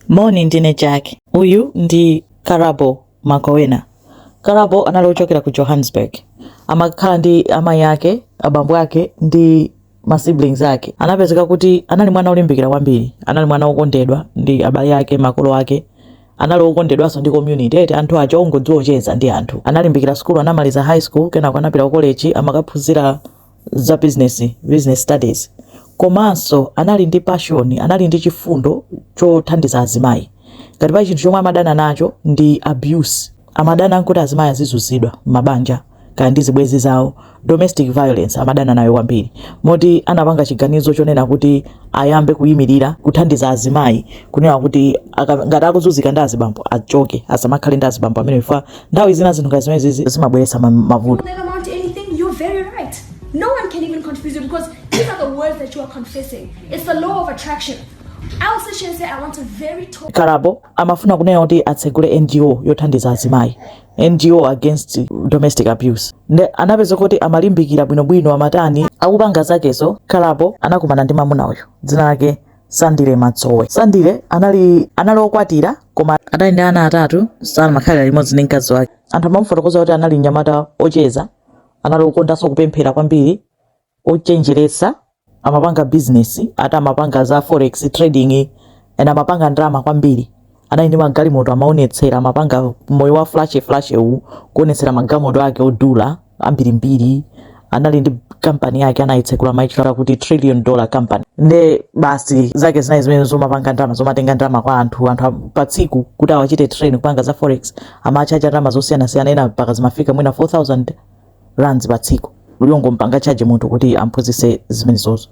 Moni, ndine Jack. Uyu ndi Karabo Mokoena. Karabo anali ochokera ku Johannesburg. Amakhala ndi amayi ake, abambo ake ndi ma siblings ake. Anapezeka kuti anali mwana olimbikira kwambiri, anali mwana wokondedwa ndi abale ake, makolo ake anali okondedwanso ndi community eti anthu aja ongodziwa kucheza ndi anthu analimbikira sukulu anamaliza high school kenako anapita ku college amakaphunzira za business, business studies komanso anali ndi passion, anali ndi chifundo chothandiza azimayi. Ngati pali chinthu chomwe amadana nacho ndi abuse, amadana nkuti azimayi azizunzidwa m'mabanja kaya ndi zibwenzi zawo, domestic violence amadana nayo kwambiri moti anapanga chiganizo chonena kuti ayambe kuyimirira kuthandiza azimayi kunena kuti aka- ngati akuzunzika ndi azibambo achoke asamakhale ndi azibambo amene chifukwa Nthawi zina zinthu ngati zimenezi zimabweretsa mavuto. No one can even confuse you because these are the words that you are confessing. It's the law of attraction. Karabo amafuna kunena kuti atsegule NGO yothandiza azimayi NGO against domestic abuse nde anapezeka kuti amalimbikira bwinobwino amatani akupanga zakezo. Karabo anakumana ndi mamuna uyu dzina lake Sandile Matsowe. Sandile anali anali okwatira koma adali ndi ana atatu samakhalira limodzi ndi mkazi wake. Anthu amamufotokoza kuti anali mnyamata ocheza, anali okondanso kupemphera kwambiri, ochenjeretsa, amapanga bizinesi, ati amapanga za forex trading, and amapanga ndalama kwambiri. anali ndi magalimoto amaonetsera amapanga moyo wa flash flash uwu kuonetsera magalimoto ake odula ambirimbiri anali ndi kampani yake anayitsekula amaitchula kuti trillion dollar company nde basi zake zinali zimene zomapanga ndalama zomatenga ndalama kwa anthu anthu a- pa tsiku kuti awachite train kupanga za forex amachaja ndalama zosiyanasiyana ena mpaka zimafika mwina 4000 rands pa tsiku ali ongompanga charge munthu kuti amphunzitse zimenezozo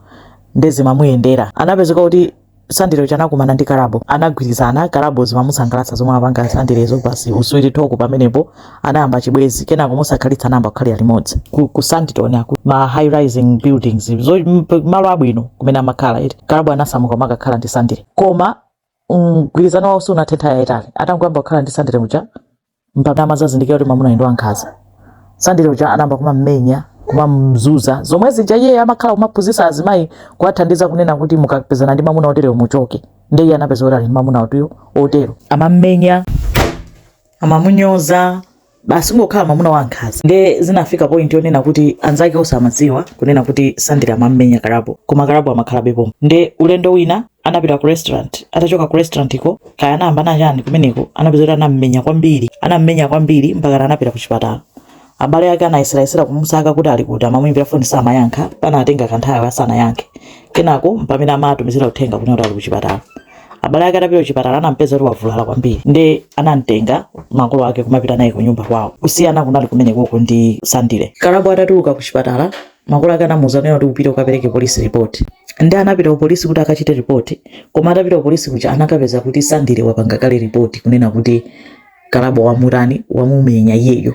nde zimamuyendera anapezeka kuti Sandile uja anakumana ndi Karabo anagwirizana Karabo zimamusangalatsa zomwe amapanga Sandilezo basi sweet talk pamenepo anayamba chibwenzi kenako mosakhalitsa anayamba kukhalira limodzi ku, ku Sandton uku ma high rising buildings zo mp- malo abwino kumene amakhala eti Kalabo anasamuka kumakakhala ndi Sandile koma mgwirizano wawo sunathe nthawi yayitali atangoyamba kukhala ndi Sandile muja mpaka amazazindikira kuti mwamuna ndi wankhanza sandile uja anayamba kumammenya kumamzunza zomwe zija iye amakhala kumaphunzitsa azimayi kuwathandiza kunena kuti mukapezana ndi mwamuna otereyo muchoke ndiye iye anapeza kuti ali ndi mwamuna otiyo otero amammenya amamunyoza basi kungokhala mwamuna wa nkhanza nde zinafika point yonena kuti anzake onse amadziwa kunena kuti sandile amammenya karabo koma karabo amakhalabepo nde ulendo wina anapita ku restaurant atachoka ku restaurant ko kaya anayamba nachani kumeneko anapeza kuti anammenya kwambiri anammenya kwambiri mpaka anapita ku chipatala abale ake anayeserayesera kumusaka kuti ali kuti amamuimbira foni samayankha panatenga kanthawi asanayankhe kenako mpamene amatumizira uthenga kuti ali ku chipatala abale ake atapita kuchipatala anampeza kuti wavulala kwambiri nde anamtenga makolo ake kumapita naye kunyumba kwawo kusiyana kunali kumenekoko ndi sandile karabo atatuluka kuchipatala Makolo ake anamuuza kunena kuti upite ukapereke police report. Nde anapita ku polisi kuti akachite report. Koma atapita ku polisi kuja anakapeza kuti Sandile wapanga kale report kunena kuti Karabo wamutani, wamumenya iyeyo.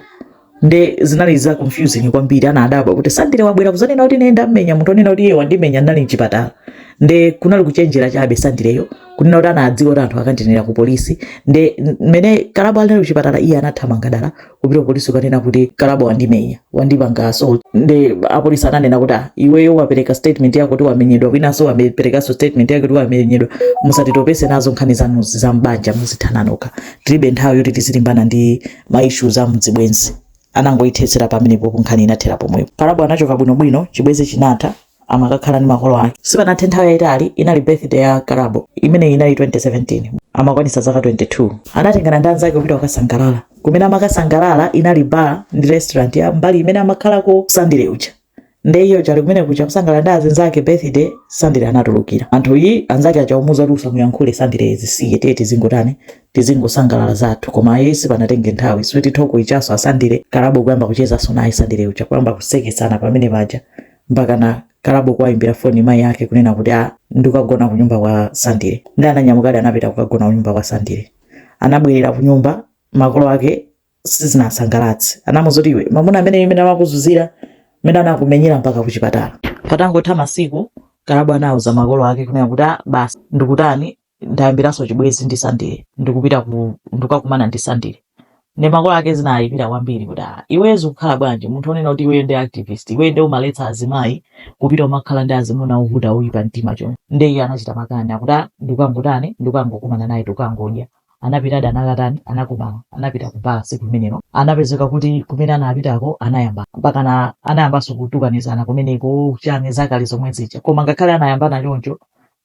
Nde zinali za confusing kwambiri anadabwa kuti Sandile wabwera kuzanena kuti ine ndamenya munthu onena kuti iye wandimenya ndinali mchipatala. Nde kunali kuchenjera chabe Sandileyo kunena kuti anadziwa kuti anthu akandinenera ku polisi. Nde mmene Karabo anali kuchipatala iye anathamanga dala kupita kupolisi kukanena kuti karabo wandimenya wandipanga assault nde apolisi ananena kuti ah, iweyo wapereka statement yako kuti wamenyedwa winanso waperekanso statement yako kuti wamenyedwa musatitopese nazo nkhani zanu za mbanja muzithana nokha tilibe nthawi yoti tizilimbana ndi ma issues a mzibwenzi anangoyithetsera pamenepo nkhani inathera pomwepo karabo anachoka bwinobwino chibwenzi chinatha amakakhala ndi makolo ake sipanathe nthawi yayitali inali birthday ya karabo imeneyi inali 2017 amakwanitsa zaka 22 anatengana ndi anzake kupita kukasangalala kumene amakasangalala inali bar ndi restaurant ya mbali imene amakhalako sandile uja nde iyo chali kumene kuja kusangalala ndi azinzake birthday sandile anatulukira anthu ayi anzake aja kumuuza kuti usamuyankhule sandile zisiye tiye tizingotani tizingosangalala zathu koma ayi sipanatenge nthawi sweet talk ijanso asandile karabo kuyamba kuchezanso naye sandile uja kuyamba kuseketsana pamene paja mpakana Karabo kuwayimbira foni mayi ake kunena kuti a ndikukagona kunyumba kwa Sandile. Nde ananyamukadi anapita kukagona kunyumba kwa Sandile. Anabwerera kunyumba makolo ake sizinasangalatse. Anamuuza kuti iwe mwamuna ameneyi mmene amakuzunzira mmene anakumenyera mpaka kuchipatala. Patangotha masiku Karabo anauza makolo ake kunena kuti a basi ndikutani ndayambiranso chibwezi ndi sandile ndikupita ku ndikukakumana ndi sandile nde makolo ake zinawayipira kwambiri kuti ah iweyo zikukhala bwanji munthu onena kuti iweyo ndi activist iweyo nde umaletsa azimayi kupita kumakhala ndi azimuna ovuta oyipa mtima choncho nde iye anachita makani akuti ah ndikangotani ndikangokumana naye tikangodya anapitadi anakatani anakumana anapita ku bar siku limenelo anapezeka kuti kumene anapitako anayamba mpakana anayambanso kutukanizana kumeneko chani zakale zomwe zija koma ngakhale anayambana choncho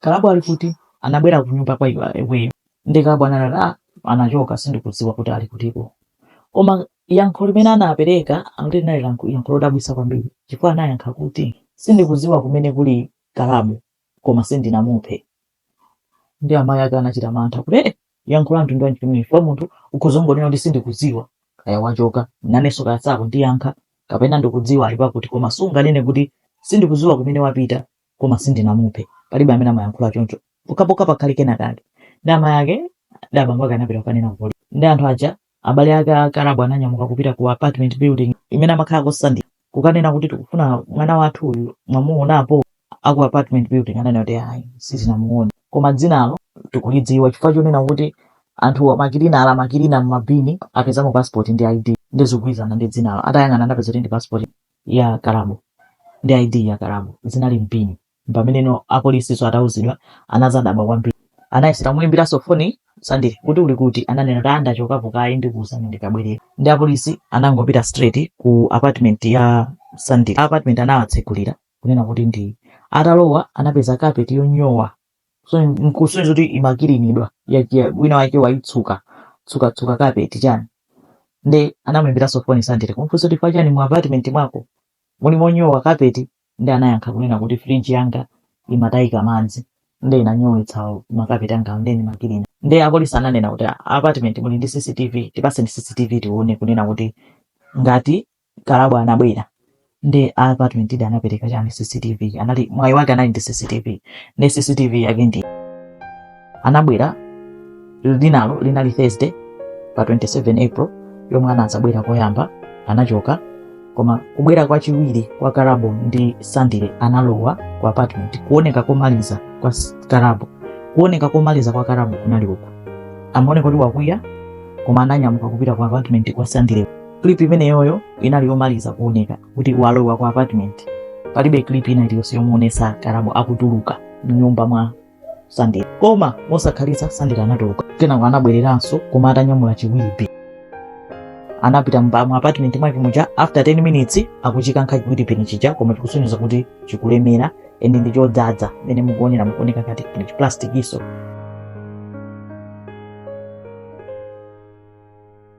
Karabo ali kuti? Anabwera kunyumba kwa iweyo. Nde Karabo anati, Ah, anachoka, sindikudziwa kuti ali kutiko. Koma yankho limene anapereka akuti linali yankho lodabwitsa kwambiri chifukwa anayankha kuti, Sindikudziwa kumene kuli Karabo, koma sindinamuphe. Ndiye amayi ake anachita mantha kuti, Eh, yankho la mtundu wanji limeneli? Chifukwa munthu ukhoza kungonena kuti, Sindikudziwa, kaya wachoka, nanenso kaya sakundiyankha, kapena ndikudziwa ali pakuti, koma sunganene kuti, Sindikudziwa kumene wapita. koma sindinamuphe palibe amene amayankhula choncho pokhapokha pakhale kenakake ndi amayi ake ndi abambo ake anapita kukanena ku polisi ndi anthu aja abale ake a karabo ananyamuka kupita ku apartment building imene amakhalako sandile kukanena kuti tikufuna mwana wathu uyu mwamuonapo aku apartment building ananena kuti ayi sitinamuone koma dzinalo tikulidziwa chifukwa chonena kuti anthu makilina amakilina mmabini apezamo passport ndi id ndi zikugwirizana ndi dzinalo atayang'ana anapeza kuti ndi passport ya Karabo ndi ID ya Karabo zinali mbini mpameneno apolisinso atauzidwa anazadabwa kwambiri anayesera kumuimbiranso foni Sandile kuti uli kuti ananena kuti ndachokapo kaye ndikuuzani ndikabwerera ndi apolisi anangopita straight ku apartment ya Sandile a apartment anawatsegulira kunena kuti ndi atalowa anapeza carpet yonyowa so nkusonyeza kuti imakilinidwa ya- ya- wina wake waitsuka tsuka tsuka kapeti chani nde anamuyimbiranso foni sandile kumfunsa kuti pachani mu apartment mwako muli monyowa kapeti nde anayankha kunena kuti fridge yanga imatayika madzi nde inanyowetsa makapeti anga nde ndimakilina nde apolisi ananena kuti "Ah, apartment muli ndi cctv tipatseni cctv tione kunena kuti ngati Karabo anabwera ndi apartment ija anapereka chani CCTV anali mwayi wake anali ndi CCTV ndi CCTV yake ndi anabwera linalo linali Thursday pa 27 April yomwe anadzabwera koyamba anachoka koma kubwera kwa chiwiri kwa Karabo ndi Sandile analowa ku apartment kuoneka komaliza kwa Karabo kuoneka komaliza kwa Karabo kunali uku amaoneka kuti wakwiya koma ananyamuka kupita ku apartment kwa Sandile clip imeneyoyo inali yomaliza kuoneka kuti walowa ku apartment palibe clip ina iliyonse yomuonesa karabo akutuluka mnyumba mwa sandile koma mosakhalitsa sandile anatuluka kenako anabwereranso koma atanyamula chi wheelie bin anapita mba- mu apartment mwake muja after 10 minutes akuchikankha chi wheelie bin chija koma chikusonyeza kuti chikulemera ende ndi chodzadza mene mukuonera mukuoneka ngati ndi chiplastikiso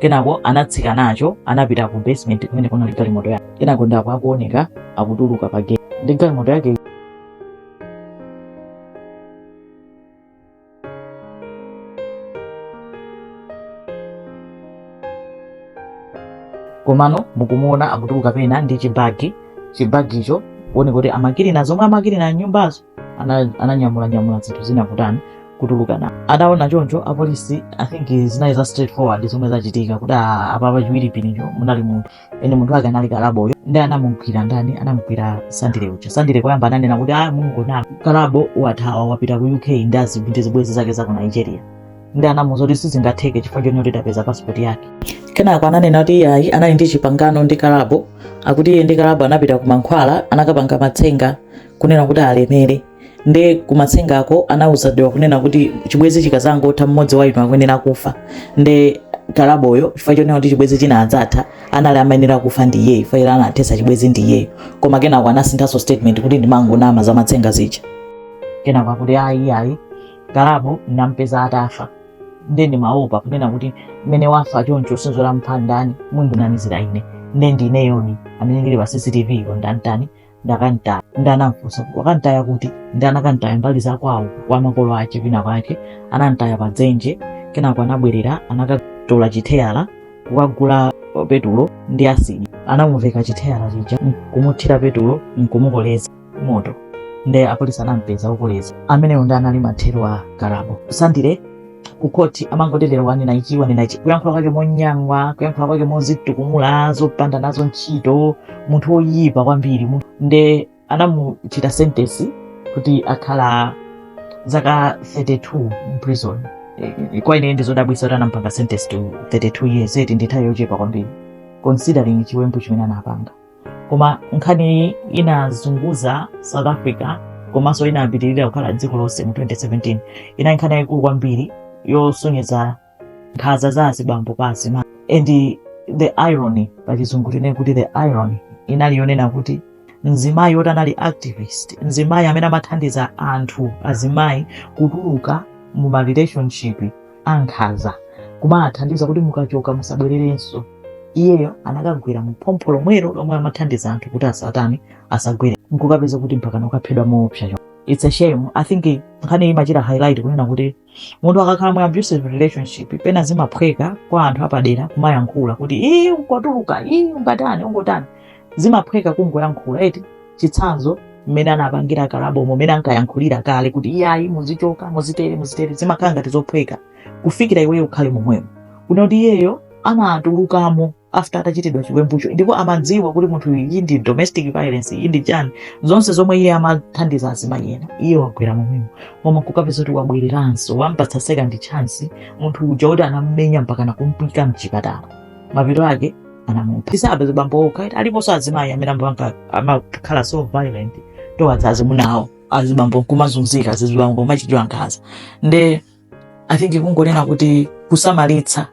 kenako anatsika nacho anapita ku basement kumene kunali galimoto yake kenako ndako akuoneka akutuluka pa gate ndi galimoto yake komano mukumuona akutuluka pena ndi chibagi chibagicho kuoneka kuti amakirina zomwe amakirina mnyumbazo ananyamula nyamula zinthu zina kutani kutuluka na ataona choncho apolisi i think zinali za straightforward zomwe zachitika kuti apapa chi wheelie binicho munali munthu nde munthu wake anali Karabo uyo ndi anamugwira ndani anamugwira sandile uja sandile koyamba ananena kuti Karabo wathawa wapita ku uk ndi zibwenzi zake za ku nigeria ndi anamuuza kuti sizingatheke chifukwa choti tapeza passport yake kenako ananena kuti iyayi anali ndi chipangano ndi Karabo akuti iye ndi Karabo anapita ku mankhwala anakapanga matsenga kunena kuti alemere nde kumatsengako anawuzidwa kunena kuti chibwezi chikadzangotha mmodzi wa inu akuyenera kufa nde Karaboyo chifukwa chonena kuti chibwezi chinadzatha amene amayenera kufa ndi iyeyo chifukwa choti anathetsa chibwezi ndi iyeyo koma kenako anasinthanso statement kuti ndimangonama za matsenga zija kenako akuti ayi ayi Karabo ndinampeza atafa nde ndimaopa kunena kuti mmene wafa choncho si wamupha ndani mundinamizira ine nde ndineyo amene ndili pa cctv yo ndamtani ndakamtaya nde anamfunsa kuti wakamtaya kuti nde anakamtaya mbali za kwawo kwa makolo ake kwina kwake anamtaya pa dzenje kenako anabwerera anakatola chitayala kukagula petulo ndi asidi anamuveka chitayala chija nkumuthira petulo nkumukoleza moto nde apolisi anampeza okoleza amenewo nde anali mathero a Karabo sandile ku khoti amangoti lero wanena ichi wanena ichi kuyankhula kwake monyang'wa kuyankhula kwake mozitukumula zopanda nazo ntchito munthu woyipa kwambiri munthu- nde anamuchita sentence kuti akhala zaka 32 mprison kwa ine ndizodabwisa kuti anampanga sentence to 32 years eti ndi nthawi yochepa kwambiri considering chiwembu chimene anapanga koma nkhaniyi inazunguza south africa komanso inapitirira kukhala mdziko lonse mu 2017 inali nkhani yayikulu kwambiri yosonyeza nkhanza za azibambo pa azimayi and the irony pa chizungu tinene kuti the irony inali yonena kuti mzimayi woti anali activist mzimayi amene amathandiza anthu azimayi kutuluka mu ma relationship ankhanza kumathandiza kuti mukachoka musabwererenso iyeyo anakagwera mu phompho lomwelo lomwe amathandiza anthu kuti asatani asagwere nkukapeza kuti mpaka nakaphedwa moopsa cho it's a shame i think nkhani imachita highlight kunena kuti munthu akakhala mu abusive relationship pena zimaphweka kwa anthu apadera kumayankhula kuti ii ungotuluka ii ungotani ungotani zimaphweka kungoyankhula eti chitsanzo mmene anapangira Karabomo mmene ankayankhulira kale kuti iyayi muzichoka muzitere muzitere zimakhala ngati zophweka kufikira iweyo ukhale momwemo kunena kuti iyeyo anatulukamo after atachitidwa chiwembucho ndipo amadziwa kuti munthu uyu iyi ndi domestic violence iyi ndi chani zonse zomwe iye amathandiza azimayi ena iye wagwera momwemo koma kukapeza kuti wabwereranso wampatsa second chance munthu uja kuti anamumenya mpaka nakumuika mchipatala mapeto ake anamupha tisati azibambo okha eti aliponso azimayi amene amakhala so violent towards azimuna awo azibambo kumazunzika azibambo kumachitidwa nkhanza nde i think kungonena kuti kusamalitsa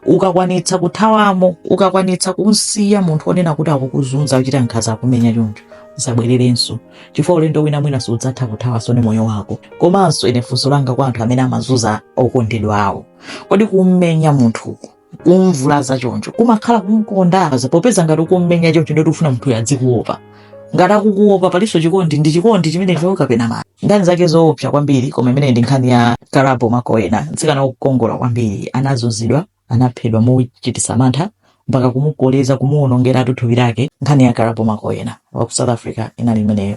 ukakwanitsa kuthawamo ukakwanitsa kumsiya munthu onena kuti akukuzunza akukuchita nkhanza akukumenya choncho usabwererenso chifukwa ulendo wina mwina sudzatha kuthawanso ndi moyo wako komanso ine funso langa kwa anthu amene amazunza okondedwa awo kodi kummenya munthuku kumvulaza choncho kumakhala kumkonda popeza ngati ukummenya choncho ndiye kuti ukufuna munthuyo adzikuopa ngati akukuopa palinso chikondi ndi chikondi chimenecho kapena ayi nkhani zake zoopsa kwambiri koma imeneyi ndi nkhani ya karabo mokoena mtsikana wokongola kwambiri anazunzidwa anaphedwa mochititsa mantha mpaka kumukoleza kumuwonongeratu thupi lake nkhani ya karabo mokoena wa ku south africa inali imeneyo